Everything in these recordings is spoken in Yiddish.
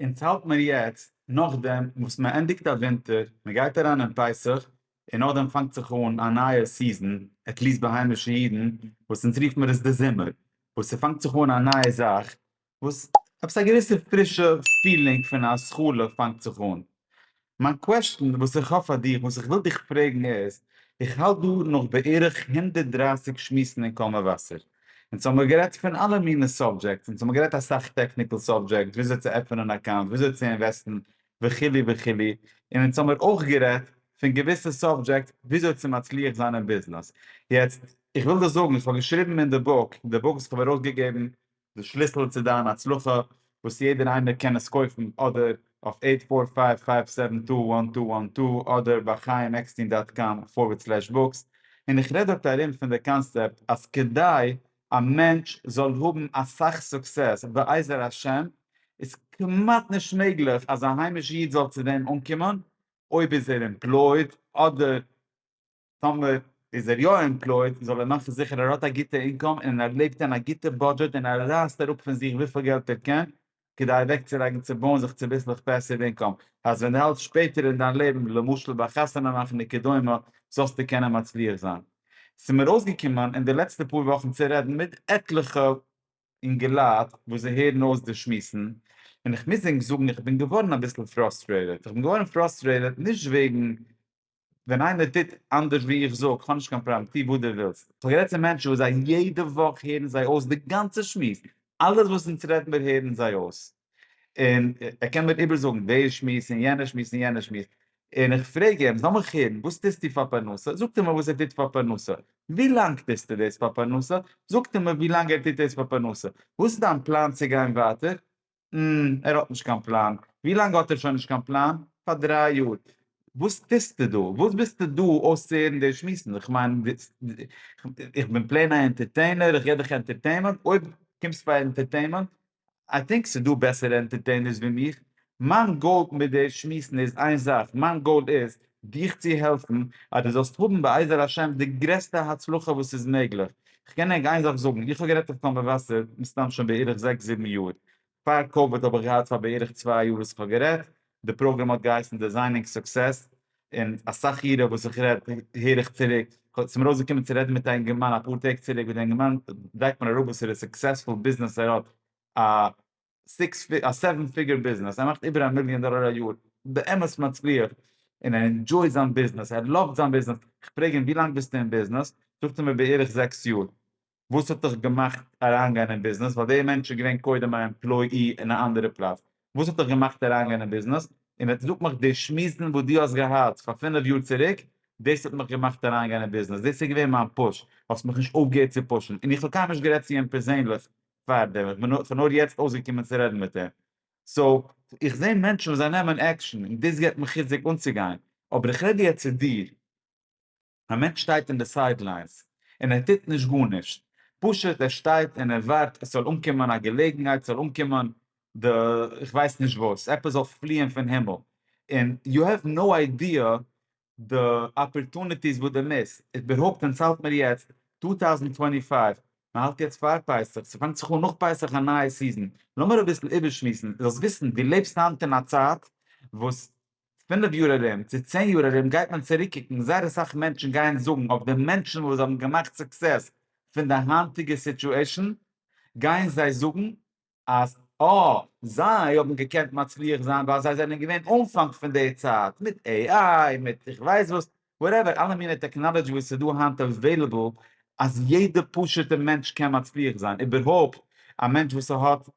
אונז האלט מיר יעצט נאכדעם וואס מען ענדיגט א ווינטער, מען גייט אריין אין פסח, און נאכדעם פאנגט זיך אן א נייע סיזען, עטליעסט ביי היימישע אידן, וואס אונז רופן מיר עס די זומער, וואס ס'פאנגט זיך אן א נייע זאך, וואס עפעס א געוויסע פרישע פילינג פון א התחלה פאנגט זיך אן. מיין קוועשטען וואס איך האב פאר דיך, וואס איך וויל דיך פרעגן איז, איך האלט דא נאך בערך הונדערט דרײַסיק שמועסן אין קול מבשר, אונז האמיר גערעדט פון אלע מיני סאבדזשעקטס, אונז האמיר גערעדט אסאך טעקניקל סאבדזשעקטס, וויאזוי צו עפענען אן אקאונט, וויאזוי צו אינוועסטן, וכו' וכו', און אונז האמיר אויך גערעדט פון געוויסע סאבדזשעקטס וויאזוי צו מצליח זיין אין ביזנעס. יעצט, איך וויל דיר זאגן, איך האב געשריבן אין די בוק, די בוק וואס איך האב ארויסגעגעבן די שליסל צו דיין הצלחה וואס יעדער איינער קען עס קויפן אדער אויף עיט פאר פייוו פייוו סעווען טו וואן טו וואן טו אדער ביי חיים עקסטין דאט קאם פארווערד סלעש בוקס און איך רעד דארט ארום פון די קאנסעפט אז כדי א מענטש זאל האבן אסאך סוקסעס בעזר השם איז כמעט נישט מעגליך אז א היימיש איד זאל צו דעם אנקומען אויב איז ער עמפלויד אדער טאמער איז ער יא עמפלויעד זאל ער מאכן זיכער ער האט א גוטע אינקאם און ער לעבט אין א גוטע בודזשעט און ער רייסט אראפ פון זיך וויפיל געלט ער קען כדי אוועקצולייגן צו בויען זיך צוביסלעך פעסיוו אינקאם אז ווען דו האלטסט שפעטער אין דיין לעבן למשל ביי חתונה מאכן וכדומה זאלסטו קענען מצליח זיין. ס'מיר אויסגעקומען אין די לעצטע פאר וואכן צו רעדן מיט עטליכע אינגעלייט וואס זיי הערן אויס די שמועסן און כ'מוז ענק זאגן איך בין געווארן אביסל פראסטרעיטעד, כ'בין געווארן פראסטרעיטעד נישט וועגן ווען איינער טוט אנדערש ווי איך זאג, כ'האב נישט קיין פראבלעם, טו וואס דו ווילסט. כ'האב גערעדט צו מענטשן וואס זיי יעדע וואך הערן זיי אויס די גאנצע שמועס, אלעס וואס אונז רעדן מיר הערן זיי אויס, און ער קען מיר איבערזאגן די שמועס און יענע שמועס און יענע שמועס, און איך פרעג אים, זאל מיך הערן, וואס טוסטו פאר פרנסה? זאגט ער מיר וואס ער טוט פאר פרנסה. ווי לאנג טוסטו דאס פאר פרנסה? זאגט ער מיר ווי לאנג ער טוט דאס פאר פרנסה. וואס איז דיין פלאן צו גיין ווייטער? ם, ער האט נישט קיין פלאן. ווי לאנג האט ער שוין נישט קיין פלאן? פאר דריי יאר. וואס טוסטו דא? וואס ביסטו דא אויסצוהערן די שמועסן? איך מיין, איך בין פלעין א ענטערטעינער, איך געב דיך ענטערטעינמענט, אויב קומסט פאר ענטערטעינמענט, איי טינק ס'איז דא בעסערע ענטערטעינערס ווי מיך. מיין גאול מיט די שמועסן איז איין זאך, מיין גאול איז דיך צו העלפן אז דו זאלסט האבן בעזר השם די גרעסטע הצלחה וואס איז מעגליך. כ'קען ענק איין זאך זאגן, איך האב גערעדט אויף קול מבשר מסתם שוין בערך זעקס זיבן יאר, פאר קאוויד האב איך געהאט פאר בערך צוויי יאר וואס איך האב גערעדט, די פראגראם האט געהייסן דיזיינינג סוקסעס, און אסאך אירע וואס איך רעד הער איך צוריק, ס'איז מיר אויסגעקומען צו רעדן מיט א אינגערמאן אפאר טעג צוריק וואס די אינגערמאן לייגט מיר אראפ וואסערע סוקסעספול ביזנעס ער האט א סיקס פיג א סעווען פיגער ביזנעס ער מאכט איבער א מיליאן דאלער א יאר באמת מצליח און ער אינדזשוי זיין ביזנעס ער לאווט זיין ביזנעס איך פרעג אים ווי לאנג ביסטו אין ביזנעס זאגט ער מיר בערך זעקס יאר וואס האט דיך געמאכט אריינגיין אין ביזנעס ווייל דער מענטש איז געווען קודם א עמפלויי אין א אנדערע פלאץ וואס האט דיך געמאכט אריינגיין אין ביזנעס און ער זאגט מיך די שמועסן וואס דו האסט געהאט פאר פינף יאר צוריק דאס האט מיך געמאכט אריינגיין אין ביזנעס דאס איז געווען מיין פוש האסט מיך נישט אויפגעהערט צו פושן און איך האב קיינמאל נישט גערעדט צו אים פערזענליך פאר דעם, איך בין נאר יעצט אויסגעקומען צו רעדן מיט אים, סאו איך זע מענטשן וואס זיי נעמען עקשן און דאס געבט מיר חיזוק אנצוגיין, אבער איך רעד יעצט צו דיר, א מענטש שטייט אין די סייד ליינס און ער טוט נישט גארנישט, פשוט ער שטייט און ער ווארט עס זאל אנקומען א געלעגנהייט, ס'זאל אנקומען די איך ווייס נישט וואס, עפעס זאל פליען פון הימל, און יו העוו נאו איידיע די אפערטוניטיס וואס די מיסט, איבערהויפט ווען ס'האלט מיר יעצט טו טאוזענד טווענטי פייוו, מ'האלט יעצט פאר פסח, ס'פאנגט זיך אן נאך פסח א נייע סיזען, לאמיר אביסל איבערשמועסן, זאלסט וויסן דו לעבסט היינט אין א צייט וואס פינף יאר ארום צו צען יאר ארום גייט מען צוריק קוקן, זייער אסאך מענטשן גייען זאגן אויף די מענטשן וואס האבן געמאכט סוקסעס פון די היינטיגע סיטועשאן, גייען זיי זאגן אז אויב זיי האבן געקענט מצליח זיין ווייל זיי זענען געווען אנפאנג פון די צייט מיט AI מיט איך ווייס וואס וואטעווער אלע מיני טעקנאלעדזשי וואס איז דא היינט אוועילעבל אז יעדע פשוטע מענטש קען מצליח זיין איבערהויפט א מענטש וואס ער האט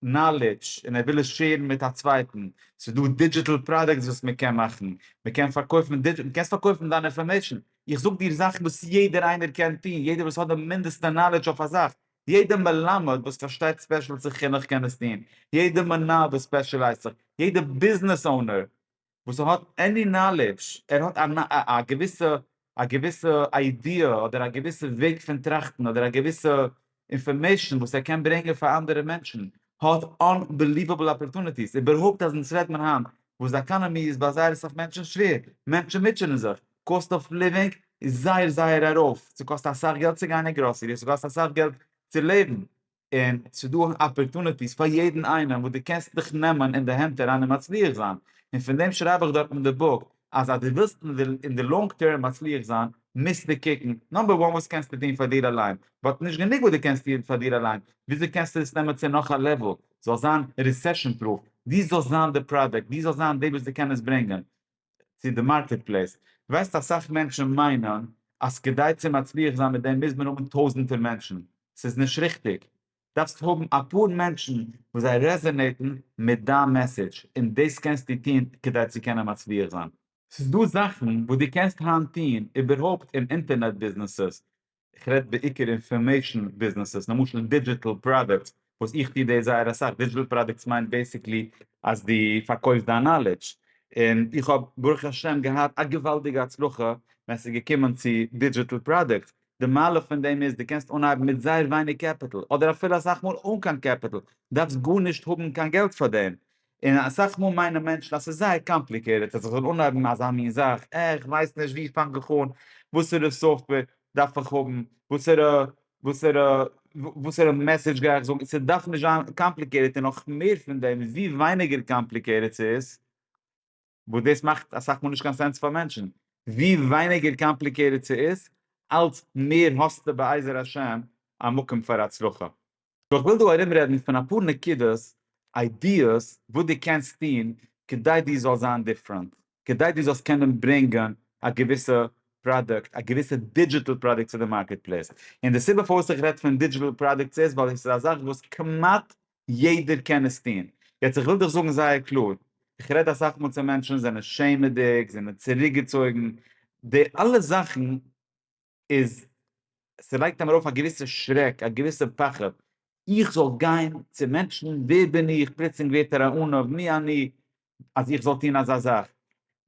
נאלעדזש און ער וויל עס שעירן מיט א צווייטן ס'איז דא דידזשיטעל פראדוקטס וואס מען קען מאכן מען קען פארקויפן דידזשיטעל דו קענסט פארקויפן דיין אינפארמעישן איך זאג דיר זאכן וואס יעדער איינער קען טון יעדער וואס האט די מינדעסטע נאלעדזש אויף א זאך יעדע מלמד וואס פארשטייט ספעשל צו חינוך קען עס טון, יעדע מנהל וואס ספעשילייזט זיך, יעדע ביזנעס אונער וואס האט עני נאלעדזש, ער האט א געוויסע א געוויסע איידיע אדער א געוויסע וועג פון טראכטן אדער א געוויסע אינפארמעישן וואס ער קען ברענגען פאר אנדערע מענטשן, האט אנבעליוועבל אפערטוניטיס, איבערהויפט אז אונז רעדט מען היינט וואס די עקאנעמי איז ביי זייער אסאך מענטשן שווער, מענטשן מוטשענען זיך, קאסט אוו ליווינג איז זייער זייער ארויף, ס'קאסט אסאך געלט צו גיין אין גראסערי, ס'קאסט אסאך געלט צו לעבן, און ס'דא אפערטוניטיס פאר יעדן איינעם וואס דו קענסט דיך נעמען אין די הענט אריין און מצליח זיין, און פון דעם שרייב איך דארט אין די בוק אז אז דו ווילסט אין די לאנג טערם מצליח זיין מוזטו קוקן נאמבער וואן וואס קענסטו טון פאר דיר אליין, באט נישט גענוג וואס דו קענסט טון פאר דיר אליין, וויאזוי קענסטו עס נעמען צו נאך א לעוועל, זאל זיין רעסעשאן פרוף, דו זאלסט זיין די פראדוקט, דו זאלסט זיין דער וואס דו קען עס ברענגען, צו די מארקעט פלעיס, דו ווייסט אסאך מענטשן מיינען אז כדי צו מצליח זיין מיט דעם מוז מען האבן טויזענטער מענטשן, ס'איז נישט ריכטיג, דארפסט האבן אפאר מענטשן וואס זיי רעזענעיטן מיט דיין מעסעדזש, און דאס קענסטו טון כדי צו קענען מצליח זיין. ס'איז דא זאכן וואס דו קענסט היינט טון, איבערהויפט אין אינטערנעט ביזנעסעס, איך רעד בעיקר אינפארמעישן ביזנעסעס, למשל דידזשיטעל פראדוקטס, וואס איך טו דאס זייער אסאך, דידזשיטעל פראדוקטס מיינט בעיסיקלי אז דו פארקויפסט דיין נאלעדזש, און איך האב ברוך השם געהאט א געוואלדיגע הצלחה ווען עס איז געקומען צו דידזשיטעל פראדוקטס, די מעלה פון דעם איז דו קענסט אנהייבן מיט זייער ווייניג קעפיטל, אדער אפילו אסאך מאל אן קיין קעפיטל, דארפסט גארנישט האבן קיין געלט פאר דעם, און אסאך מאל מיינען מענטשן אז ס'איז זייער קאמפליקעטעד אז איך זאל אנהייבן אזא מין זאך, אה, איך ווייס נישט וואו פאנג איך אן, וואסערע סאפטוועיר דארף איך האבן, וואסערע וואסערע וואסערע מעסעדזש גיי איך זאגן, ס'דארף נישט זיין קאמפליקעטעד און נאך מער פון דעם ווי ווייניגער קאמפליקעטעד ס'איז, וואס דאס מאכט אסאך מאל נישט קיין סענס פאר מענטשן, ווי ווייניגער קאמפליקעטעד ס'איז, אלץ מער האסטו בעזר השם א מקום פאר הצלחה. סאו כ'וויל דא ארומרעדן פון אפאר נקודות, איידיעס, וואס דו קענסט טון כדי דו זאלסט זיין דיפרענט, כדי דו זאלסט קענען ברענגען א געוויסע פראדוקט, א געוויסע דידזשיטעל פראדוקט צו די מארקעט פלעיס. און די סיבה פארוואס איך רעד פון דידזשיטעל פראדוקטס איז ווייל עס איז א זאך וואס כמעט יעדער קען עס טון. יעצט איך וויל דיך זאגן זייער קלאר, איך רעד אסאך מאל צו מענטשן, זיי זענען שעמעדיג, זיי זענען צוריקגעצויגן, די אלע זאכן איז, ס'לייגט אים ארויף א געוויסע שרעק, א געוויסע פחד, איך זאל גיין צו מענטשן, ווער בין איך, פלוצלינג ווערט ער א ענו, מי אני, אז איך זאל טון אזא זאך.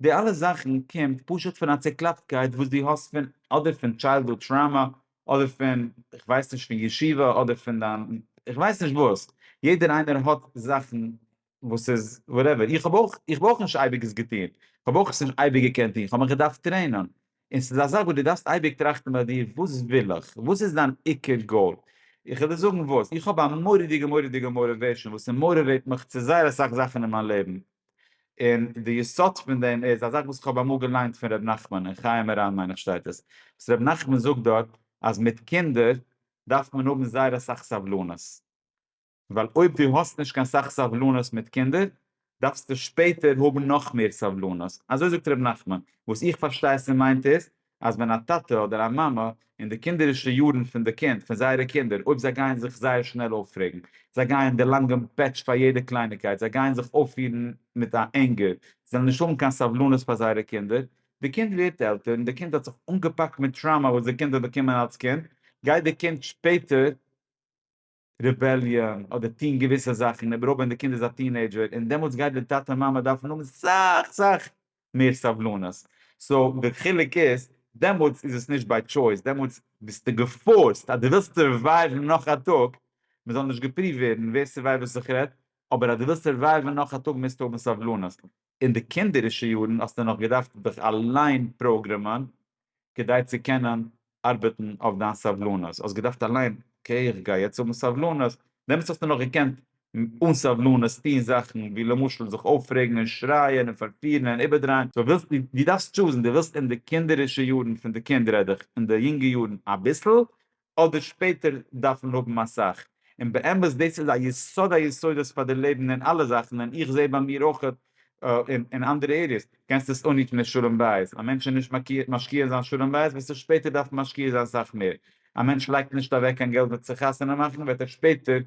די אלע זאכן קומט פשוט פון א צוקלאפטקייט וואס דו האסט פון אדער פון טשיילדהוד טראמא, אדער פון איך ווייס נישט פון ישיבה, אדער פון דיין איך ווייס נישט וואס, יעדער איינער האט זאכן וואס איז וואטעווער, איך האב אויך איך האב אויך נישט אייביג עס געטון, איך האב אויך עס נישט אייביג געקענט טון, איך האב מיך געדארפט טרעינען, און ס'איז א זאך וואס דו דארפסט אייביג טראכטן ביי דיר, וואס וויל איך? וואס איז דיין עיקר גאול? איך וועל דיר זאגן וואס, איך האב א מורא'דיגע מורא'דיגע מאוריוועישאן וואס ס'מאוריוועיט מיך צו זייער אסאך זאכן אין מיין לעבן, און די יסוד פון דעם איז א זאך וואס איך האב אמאל געליינט פון ר' נחמן, אין חיי מרן מיין איך שטייט עס, וואס ר' נחמן זאגט דארט אז מיט קינדער דארף מען האבן זייער אסאך סבלנות, ווייל אויב דו האסט נישט קיין סאך סבלנות מיט קינדער, דארפסטו שפעטער האבן נאך מער סבלנות. אזוי זאגט ר' נחמן. וואס איך פארשטיי ס'מיינט איז, אז ווען א טאטע אדער א מאמע, אין די קינדערישע יארן פון די קינד, פון זייערע קינדער, אויב זיי גייען זיך זייער שנעל אויפרעגן, זיי גייען דערלאנגען פעטש פאר יעדע קלייניקייט, זיי גייען זיך אויפפירן מיט א ענגער, זיי וועלן נישט האבן קיין סבלנות פאר זייערע קינדער. די קינד ווערט עלטער, און די קינד האט זיך אנגעפאקט מיט טראומא וואס די קינד האט באקומען אלס קינד, גייט די קינד שפעטער, רעבעליאן אדער טוהן געוויסע זאכן און איבעראל ווען די קינד איז א טינעידזשער און דעמאלטס גייט די טאטע מאמע דארפן האבן סאך סאך מער סבלנות סאו די חילוק איז דעמאלטס איז עס נישט ביי טשויס דעמאלטס ביסטו געפארסט אז די ווילסט סורווייווען נאך א טאג מען זאל נישט געפריווט ווערן ווער ס'ווייסט וואס איך רעד אבער אז די ווילסט סורווייווען נאך א טאג מוזטו האבן סבלנות אין די קינדערישע יארן האסטו נאך געדארפט דיך אליין פראגרעמען כדי צו קענען ארבעטן אויף דיין סבלנות, האסט געדארפט אליין אקעי איך גיי יעצט האבן סבלנות, דעמאלטס האסטו נאך געקענט אן סבלנות טון זאכן ווי למשל זיך אויפרעגן און שרייען און פארפירן און איבערדרייען, סאו ווילסט דו דארפסט טשוזן, דו ווילסט אין די קינדערישע יארן פון די קינד רעד איך אין די יונגע יארן אביסל, אדער שפעטער דארפן האבן אסאך, און באמת דאס איז א יסוד היסודות פאר די לעבן אין אלע זאכן, און איך זעה ביי מיר אויך אין אנדערע עריעס, קענסט עס אנהיטן די שלום בית, א מענטש איז נישט מקיע משקיע אין זיין שלום בית וועסט דו שפעטער דארפן משקיע זיין סאך מער, א מענטש לייגט נישט אוועק קיין געלט מיט צו חתונה מאכן וועט ער שפעטער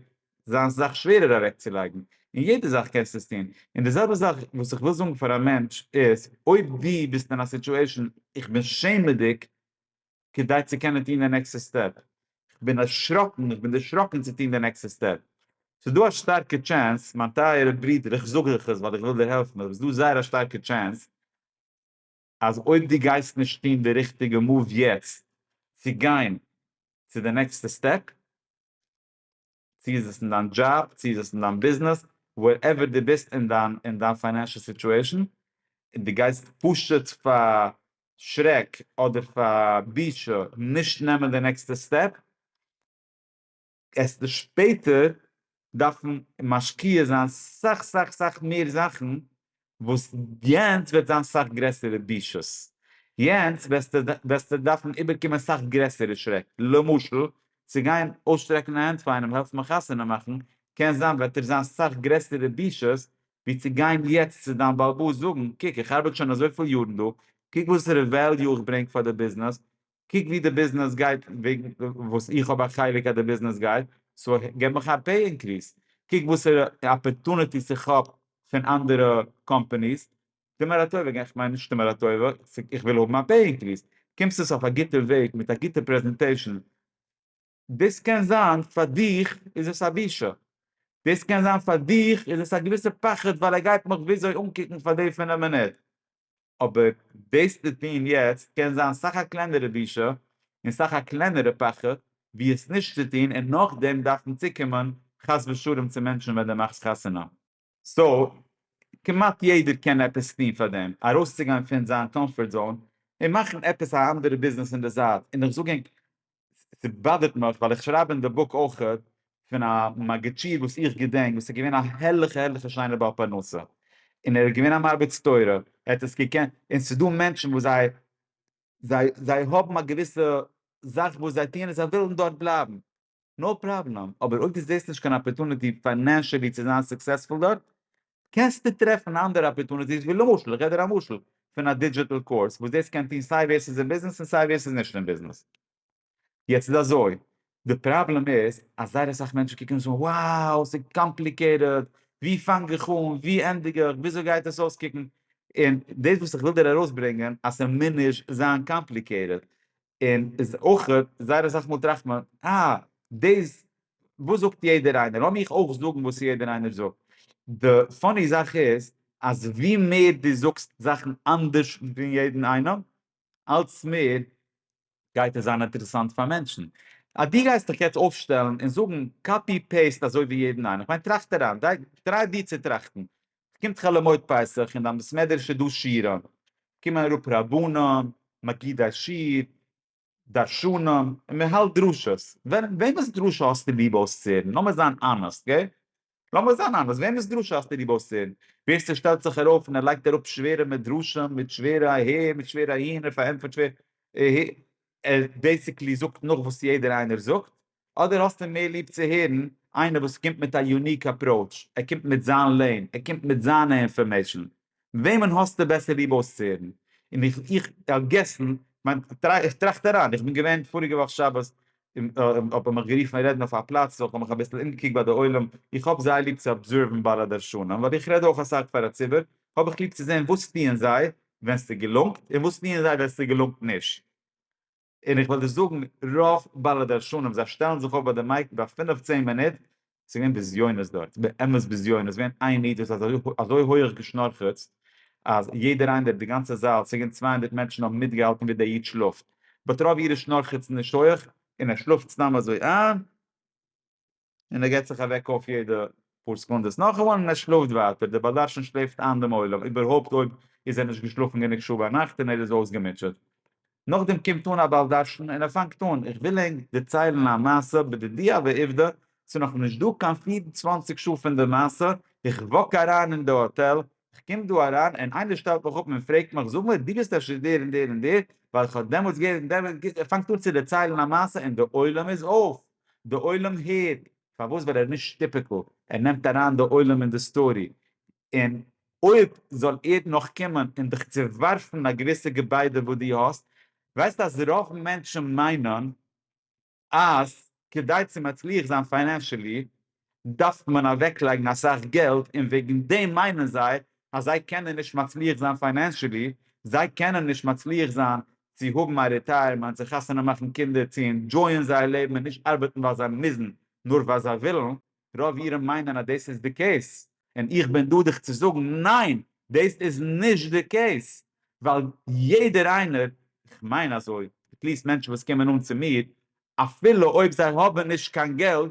זיין סאך שווערער אוועקצולייגן, אין יעדע זאך קענסטו עס טון, און די זעלבע זאך וואס איך וויל זאגן פאר א מענטש איז, אויב דו ביסט אין א סיטועשן איך בין שעמעדיג, כדי צו קענען טון די נעקסטע סטעפ. איך בין דערשראקן, איך בין דערשראקן צו טון די נעקסטע סטעפ. ס'איז דא א שטארקע טשענס, מיין טייערע ברודער, איך זאג דיך עס ווייל איך וויל דיר העלפן, אבער ס'איז דא זייער א שטארקע טשענס אז אויב דו גייסט נישט טון די ריכטיגע מאוו יעצט צו גיין צו די נעקסטע סטעפ, צי איז עס אין דיין דזשאב, צי איז עס אין דיין ביזנעס, ווערעווער דו ביסט אין דיין פיינענשעל סיטועשאן, און דו גייסט פשוט פאר שרעק אדער פאר בושה נישט נעמען די נעקסטע סטעפ, העסטו שפעטער דארפן משקיע זיין סאך סאך סאך מער זאכן וואס יענץ וועט זיין סאך גרעסערע בושות, יענץ וועסטו דארפן איבערקומען סאך גרעסערע שרעק, למשל צו גיין אויסשטרעקן א הענט פאר איינעם העלפן מיך חתונה מאכן, קען זיין וועט ער זיין סאך גרעסערע בושות ווי צו גיין יעצט צו דיין בעל הבית זאגן, קוק איך ארבעט שוין אזויפיל יארן דא, קוק וואסערע וועליו איך ברענג פאר די ביזנעס, קוק ווי די ביזנעס גייט וועגן וואס איך האב א חלק אז די ביזנעס גייט, סאו געב מיך א פעי אינקריס, קוק וואסערע אפערטוניטיס איך האב פון אנדערע קאמפאניס, טו מיר א טובה, איך מיין נישט טו מיר א טובה, איך וויל האבן א פעי אינקריס, קומסט עס אויף א גוטע וועג מיט א גוטע פרעזענטעישאן, דאס קען זיין פאר דיך איז עס א בושה, דאס קען זיין פאר דיך איז עס א געוויסע פחד ווייל ער גייט מיך וויאזוי אנקוקן פאר די פינף מינוט, אבער דאס צו טון יעצט קען זיין סאך א קלענערע בושה און סאך א קלענערע פחד ווי עס נישט צו טון און נאכדעם דארפן צוקומען חס ושלום צו מענטשן ווען דו מאכסט חתונה. סאו כמעט יעדער קען עפעס טון פאר דעם, ארויסצוגיין פון זיין קאמפארט זאון און מאכן עפעס א אנדערע ביזנעס אין די זייט, און איך זאג ענק ס'באדערט מיך ווייל איך שרייב אין די בוק אויך פון א מגיד שיעור וואס איך געדענק וואס איז געווען א הערליכע הערליכע שיינע בעל פרנסה און ער איז געווען א מרביץ תורה ער האט עס געקענט און ס'איז דא מענטשן וואס זיי זיי זיי האבן א געוויסע זאך וואס זיי טוען און זיי ווילן דארט בלייבן. נאו פראבלעם, אבער אויב דו זעסט נישט קיין אפערטוניטי פיינענשעלי צו זיין סוקסעספול דארט, קענסטו טרעפן אנדערע אפערטוניטיס ווי למשל, איך געב דיר א משל, פון א דידזשיטעל קורס וואס דאס קען טון סיי ווער ס'איז אין ביזנעס און סיי ווער ס'איז נישט אין ביזנעס. יעצט איז אזוי, די פראבלעם איז אז זייער אסאך מענטשן קוקן און זאגן wow ס'איז קאמפליקעיטעד, ווי פאנג איך אן, ווי ענדיג איך, וויאזוי גייט עס אויסקוקן, און דאס וואס איך וויל דיר ארויסברענגען אז ס'מוז נישט זיין קאמפליקעיטעד, און איז אויך זייער אסאך מאל טראכט מען אה דאס וואס זאגט יעדער איינער לאמיר איך אויך זאגן וואס יעדער איינער זאגט. די פאני זאך איז אז ווי מער דו זאגסט זאכן אנדערש פון יעדן איינעם אלץ מער גייט עס זיין אינטערעסאנט פאר מענטשן. אז דו גייסט דיך יעצט אויפשטעלן און זאגן קאפי פעיסט אזוי ווי יעדן איינעם, כ'מיין טראכט אריין, דריי דיר צו טראכטן, ס'קומט חאלעמויד פסח און ביים בית מדרש איז דא שירעם, קומען אראפ רבנים, מגידי שיר, דרשנים, און מען האלט דרשות, וועמענס דרשה האסטו ליב אויסצוהערן? לאמיר זיין אנעסט, גא? לאמיר זיין אנעסט, וועמענס דרשה האסטו ליב אויסצוהערן? ווער ס'שטעלט זיך ארויף און ער לייגט אראפ שווערע מדרשים מיט שווערע אהער מיט שווערע אהין, ער פארענטפערט שווער אהער, ער בעיסיקלי זאגט נאך וואס יעדער איינער זאגט, אדער האסטו מער ליב צו הערן איינער וואס קומט מיט א יוניק אפראוטש, ער קומט מיט זיין לעין, ער קומט מיט זיינע אינפארמעישן, וועמען האסטו בעסער ליב אויסצוהערן? און איך איך על געסן, כ'מיין איך טראכט אריין, איך בין געווען פאריגע וואך שבת, האט מען מיך גערופן רעדן אויף א פלאץ, סאו כ'האב מיך אביסל אומגעקוקט ביי די עולם, איך האב זייער ליב צו אבזערוון ביי א דרשן, ווייל איך רעד אויך אסאך פאר א ציבור, האב איך ליב צו זען וואס טוען זיי ווען ס'געלונגט, און וואס טוען זיי ווען ס'געלונגט נישט. און איך וועל דיר זאגן, רוב בעלי דרשנים זיי שטעלן זיך אויף ביי די מייק ביי פינף צען מינוט, ס'איז געווען בזיונות דארט, באמת בזיונות, ס'איז געווען איין איד וואס האט אזוי אזוי הויעך געשנארכעצט, אז יעדער איינער, די גאנצע זאל, ס'איז געווען צוויי הונדערט מענטשן האבן מיטגעהאלטן ווי דער איד שלאפט, באט רוב אירע שנארכעצן נישט הויעך, און ער שלאפט סתם אזוי איין, און ער געט זיך אוועק אויף יעדע פאר סעקונדעס נאך איינמאל און ער שלאפט ווייטער, דער בעל דרשן שלעפט איין דעם עולם, איבערהויפט אויב איז ער נישט געשלאפן גענוג שעה ביינאכט און ער איז אויסגעמוטשעט. נאכדעם קומט אן א בעל דרשן און ער פאנגט אן, איך וויל ענק דערציילן א מעשה בדידיה ועובדא, ס'איז נאך נישט דא קיין פֿיר און צוואַנציק שעה פון די מעשה, איך וואק אריין אין די האטעל, איך קום דא אריין און איינער שטעלט מיך אפ און פרעגט מיך, זאג מיר דו ביסט אפשר דער און דער און דער, ווייל איך האב דעמאלטס געהערט און דער און דער האט געזאגט, ער פאנגט אן צו דערציילן א מעשה און דער עולם איז אויף. די עולם הערט, פארוואס ווייל ער איז נישט טיפיקעל, ער נעמט אריין די עולם אין די סטארי, און אויב זאל ער נאך קומען און דיך צעווארפן א געוויסע געביידע וואס דו האסט, ווייסט אז רוב מענטשן מיינען אז כדי צו מצליח זיין פיינענשעלי דארף מען אוועקלייגן אסאך געלט און וועגן דעם מיינען זיי אז זיי קענען נישט מצליח זיין פיינענשעלי, זיי קענען נישט מצליח זיין צו האבן א רעטייערמענט, זיך חתונה מאכן קינדער צו אינדזשויען זייער לעבן און נישט ארבעטן ווייל זיי מוזן נאר ווייל זיי ווילן, רוב אירע מיינען אז דאס איז די קעיס און איך בין דא דיך צו זאגן ניין דאס איז נישט די קעיס ווייל יעדער איינער, איך מיין אזוי, עטליעסט מענטשן וואס קומען אן צו מיר, אפילו אויב זיי האבן נישט קיין געלט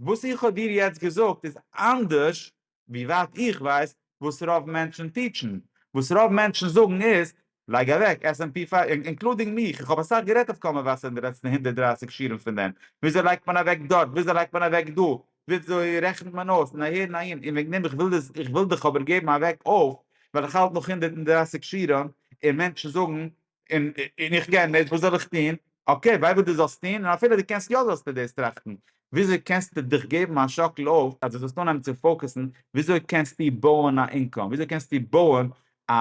וואס איך האב דיר יעצט געזאגט איז אנדערש ווי ווייט איך ווייס וואס רוב מענטשן טיטשן, וואס רוב מענטשן זאגן איז, לייג אוועק עס ענד פי פייוו, אינקלודינג מיך, איך האב אסאך גערעדט אויף קול מבשר אין די לעצטע הונדערט דרײַסיק שיעורים פון דעם, וויאזוי לייגט מען אוועק דארט, וויאזוי לייגט מען אוועק דא, וויאזוי רעכנט מען אויס, און אהער און אהין, און וועגן דעם איך וויל דאס, איך וויל דיך אבער געבן א וועק אויף, ווייל איך האלט נאך הונדערט דרײַסיק שיעורים, און מענטשן זאגן און און איך קען נישט וואס זאל איך טון? אקעי וויי וואס דו זאלסט טון און אפילו דו קענסט יא זאלסטו דאס טראכטן, וויאזוי קענסטו דיך געבן א שאקל אויף אז דו זאלסט אנהייבן צו פאוקעסן וויאזוי קענסטו בויען א אינקאם, וויאזוי קענסטו בויען א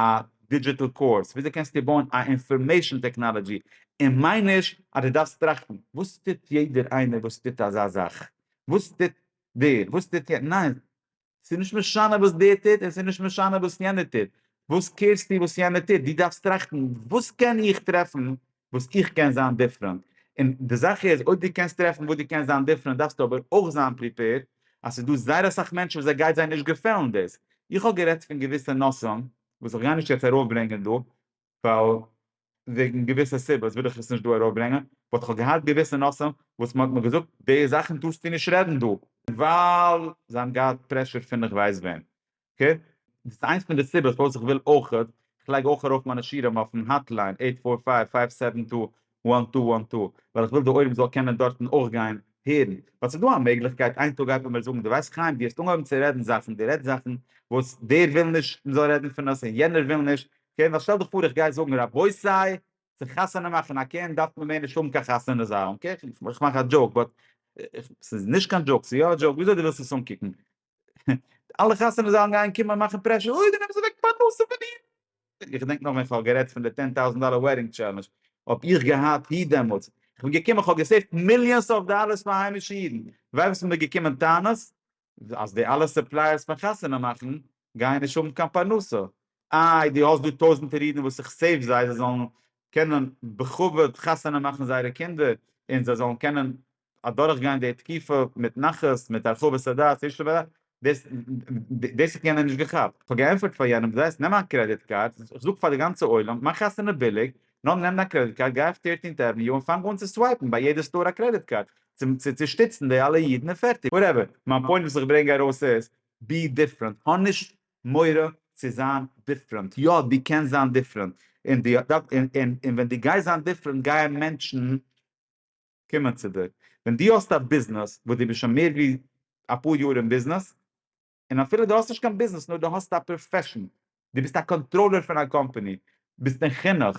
דידזשיטעל קורס, וויאזוי קענסטו בויען א אינפארמעישן טעקנאלעדזשי, און מיין נישט אז דו דארפסט טראכטן, וואס טוט יעדער איינער וואס טוט אזא זאך? וואס טוט דער? וואס טוט יענער? ניין! ס'איז נישט משנה וואס דער טוט און ס'איז נישט משנה וואס יענער טוט, וואס קעירסטו וואס יענער טוט, דו דארפסט טראכטן וואס קען איך טרעפן וואס איך קען זיין דיפרענט, און די זאך איז אויב דו קענסט טרעפן וואס דו קענסט זיין דיפרענט דארפסטו אבער אויך זיין פריפעירד אז ס'איז דא זייער אסאך מענטשן וואס ס'גייט זיי נישט געפעלן דאס, איך האב גערעדט פון געוויסע נושאים וואס איך גיי נישט יעצט ארויפברענגען דא, ווייל וועגן געוויסע סיבות וויל איך עס נישט דא ארויפברענגען, באט כ'האב געהאט געוויסע נושאים וואס מ'האט מיר געזאגט די זאכן טארסטו נישט רעדן דא, ווייל זיי האבן געהאט פרעשור פון איך ווייס וועם. אקעי? דאס איז איינס פון די סיבות פארוואס איך וויל אויך, איך לייג אויך ארויף מיינע שירים אויפן האטליין, עיט פאר פייוו, פייוו סעווען טו, וואן טו וואן טו, ווייל איך וויל די עולם זאל קענען דארטן אויך גיין הערן, ווייל ס'איז דא א מעגליכקייט איין טאג גייט מען מיר זאגן דו ווייסט חיים דו האסט אנגעהויבן צו רעדן זאכן דו רעדסט זאכן וואס דער וויל נישט מ'זאל רעדן פון עס און יענער וויל נישט, אקעי ווייל שטעל דיך פאר איך גיי זאגן רבותי צו חתונה מאכן א קינד דארף מען מער נישט האבן קיין חתונה זאלן, אקעי איך מאך א דזשאוק באט ס'איז נישט קיין דזשאוק ס'איז יא א דזשאוק וויאזוי דו ווילסט עס אנקוקן, אלע חתונות זאלן גיין קומען מאכן פרעשור, אוי די נעמסט אוועק פרנסה פון אידן. איך געדענק נאך ווען איך האב גערעדט פון די טען טאוזענט דאלער וועדינג טשעלענדזש, האב איך געהאט היט דעמאלטס, איך בין געקומען איך האב געסעיווט מיליאנס אוו דאלערס פאר היימישע אידן, ווייסט וואס מ'איז געקומען טענות? אז די אלע סופלייערס פון חתונה מאכן גייען נישט האבן קיין פרנסה, איי דו האסט דא טויזענטער אידן וואס איך סעיוו זיי, זיי זאלן קענען בכבוד חתונה מאכן זייערע קינדער, און זיי זאלן קענען אדורך גיין די תקופה מיט נחת מיט הרחבת הדעת איש לב אדם, דאס דאס האט יענער נישט געכאפט, כ'האב געענטפערט פאר יענעם דו זעסט נעם א קרעדיט קארד, כ'זאג פאר די גאנצע עולם מאך חתונה ביליג, נאר נעם דיין קרעדיט קארד גיי אויף טירטינט עוועניו און פאנג אן צו סווייפן ביי יעדע סטאר א קרעדיט קארד, צו שטיצן די אלע אידן און פערטיג. וואטעווער, מיין פוינט וואס איך ברענג ארויס איז, בי דיפרענט, האב נישט מורא צו זיין דיפרענט, יא דו קענסט זיין דיפרענט, און ווען דו גייסט זיין דיפרענט גייען מענטשן. קומען צו דיר. ווען דו האסט א ביזנעס וואס דו ביסט שוין מער ווי אפאר יאר אין ביזנעס, און אפילו דו האסט נישט קיין ביזנעס נאר דו האסט א פראפעשן, דו ביסט א קאנטראלער פון א קאמפאני, ביסט אין חינוך,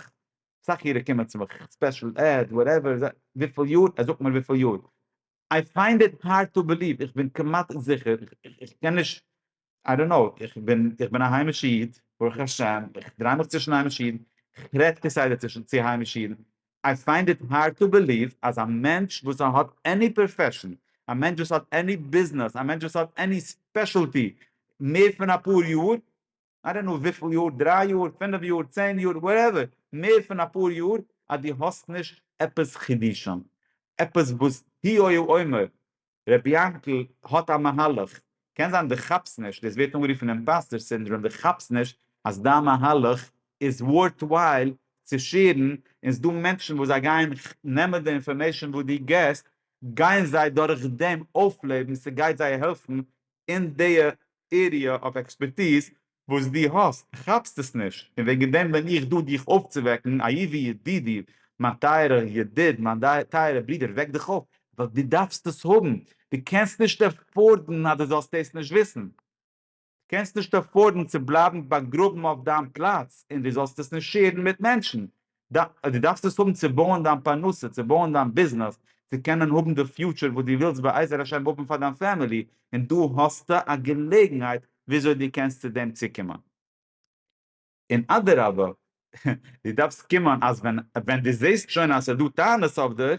אסאך אירע קומען צו מיך, ספעשל עד, וואטעווער, וויפיל יאר? ער זאגט מיר וויפיל יאר. איי פיינד איט הארד טו בעליוו, איך בין כמעט זיכער, איך קען נישט איי דאנט קנאו, איך בין איך בין א היימישע איד, ברוך השם, איך דריי מיך צווישן היימישע אידן, איך רעד כסדר צווישן צו היימישע אידן, איי פיינד איט הארד טו בעליוו אז א מענטש וואס האט עני פראפעשן, א מענטש וואס האט עני ביזנעס, א מענטש וואס האט עני ספעשעלטי, מער פון אפאר יאר, איי דאנט קנאו וויפיל יאר, דריי יאר, פינף יאר, צען יאר, וואטעווער, מער פון אפאר יאר, אז דו האסט נישט עפעס חידושים, עפעס וואס הי' הי' אומר, ר' יענקל האט א מהלך, קען זיין דו כאפסט נישט, דאס ווערט אנגערופן אימפאסטער סינדראם, דו כאפסט נישט אז דיין מהלך איז ווארטווייל צו שעירן, און ס'דא מענטשן וואס זיי גייען נעמען די אינפארמעישן וואס דו געסט, גייען זיי דורך דעם אויפלעבן, ס'גייט זיי העלפן אין דיע עריע אוו עקספערטיז, וואס דו האסט, כאפסט עס נישט, און וועגן דעם בין איך דא דיך אויפצווועקן, אהובי ידידי, מיין טייערער ידיד, מיין טייערער ברודער, וועק דיך אויף, ווייל דו דארפסט עס האבן, דו קענסט נישט עפארדן אז דו זאלסט דאס נישט וויסן, דו קענסט נישט עפארדן צו בלייבן באגראבן אויף דיין פלאץ און דו זאלסט עס נישט שעירן מיט מענטשן, דו דארפסט עס האבן צו בויען דיין פרנסה, צו בויען דיין ביזנעס, צו קענען האבן די פיוטשער וואס דו ווילסט בעזר השם האבן פאר דיין פעמילי, און דא האסטו א געלעגנהייט וויאזוי דו קענסט צו דעם צוקומען. און אדרבה, דו דארפסט קומען אז ווען דו זעסט שוין אז ס'איז דא טענות אויף דיר,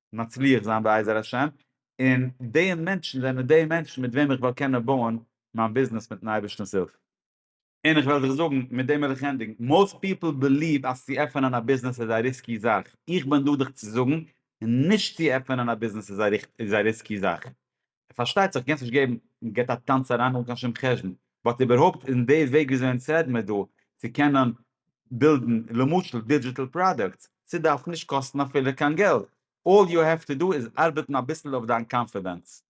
מצליח זיין בעזר השם, און די מענטשן זענען די מענטשן מיט וועם איך וועל קענען בויען מיין ביזנעס מיטן אייבערשטנ'ס הילף. און איך וועל זיך זאגן, מיט דעם וועל איך ענדיגן, מאוסט פיפל בעליוו אז צו עפענען א ביזנעס איז א ריסקי זאך, איך בין דא דיך צו זאגן, נישט צו עפענען א ביזנעס איז א ריסקי זאך, ער פארשטייט זיך גענצליך געבן און געט א טאנץ אריין אן קיין שום חשבון, באט איבערהויפט אין די וועג ווי אזוי אונז רעד מיר דא צו קענען בילדן למשל דידזשיטעל פראדוקטס, ס'דארף נישט קאסטן אפילו קיין געלט, אלל יו העוו טו דא איז ארבעטן אביסל אויף דיין קאנפידענס.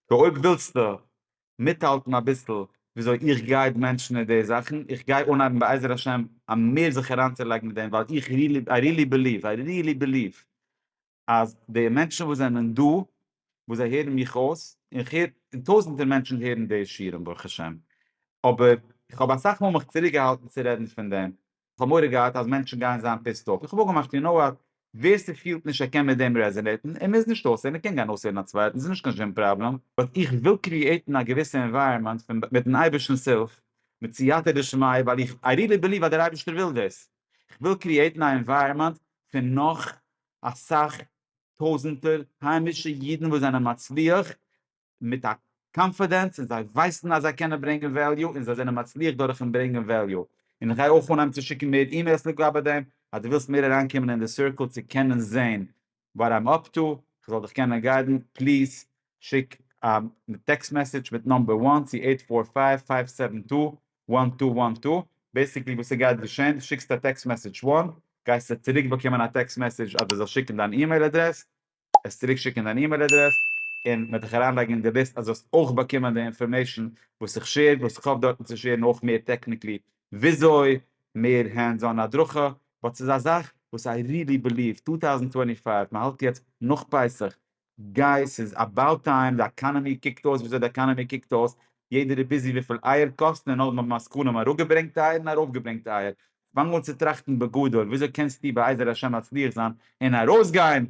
סאו אויב ווילסטו מיטהאלטן אביסל ווי אזוי איך גייד מענטשן אין די זאכן, איך גיי אנהייבן בעזר השם מער זיך אריינצולייגן מיט דעם ווייל איך ריעלי, איי ריעלי בעליוו, איי ריעלי בעליוו אז די מענטשן וואס זענען דא וואס זיי הערן מיך אויס, און איך הער, און טויזענטער מענטשן הערן די שיעורים ברוך השם, אבער איך האב אסאך מאל מיך צוריק געהאלטן צו רעדן פון דעם, איך האב מורא געהאט אז מענטשן גייען זיין פיסד אףף, איך האב אפגעמאכט יו נאו וואט, ווער ס'פילט נישט ער קען מיט דעם רעזענעיטן, ער מוז נישט אויסהערן, ער קען גיין אויסהערן א צווייטן, ס'איז נישט קיין שום פראבלעם, באט איך וויל קריעיטן א געוויסע ענווייראמענט פון מיטן אייבערשטנ'ס הילף, מיט סייעתא דשמיא, ווייל איך, איי ריעלי בעליוו אז דער אייבערשטער וויל דאס, איך וויל קריעיטן א ענווייראמענט פון נאך אסאך טויזענטער היימישע אידן וואס זענען מצליח מיט א קאנפידענס און זיי ווייסן אז זיי קענען ברענגען וועליו און זיי זענען מצליח דורכן ברענגען וועליו, און איך גיי אויך אנהייבן צו שיקן מער אימעילס לגבי דעם, אז דו ווילסט מער אריינקומען אין די סירקל צו קענען זען וואט איים אפ טו, איך זאל דיך קענען גיידן, פליז שיק א טעקסט מעסעדזש מיט נאמבער וואן צו אייט פאר פייוו פייוו סעווען טו וואן טו וואן טו, בעסיקלי וואס ס'גייט געשען, דו שיקסט א טעקסט מעסעדזש וואן, גייסטו צוריק באקומען א טעקסט מעסעדזש אז דו זאלסט שיקן דיין אימעיל אדרעס, עס צוריק שיקן דיין אימעיל אדרעס, און מען וועט דיך אריינלייגן אין די ליסט אז דו האסט אויך באקומען די אינפארמעישן וואס איך שעיר, וואס איך האף דארטן צו שעירן אויך מער טעקניקלי וויאזוי, מער הענדס אן הדרכה, באט ס'איז א זאך וואס איי ריעלי בעליוו טו טאוזענד טווענטי פייוו, מען האלט יעצט נאך פסח, גייס ס'איז אבאוט טיים, די עקאנעמי קוקט אויס וויאזוי די עקאנעמי קוקט אויס, יעדער איז ביזי וויפיל אייער קאסטן און נאכדעם האבן עסקנים אראפגעברענגט אייער און ארויפגעברענגט אייער, פאנג אן צו טראכטן בגדול, וויאזוי קענסטו בעזר השם מצליח זיין און ארויסגיין,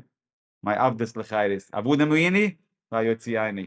מיין עבדות לחירות, עבודה מעיני והיוצא עיני.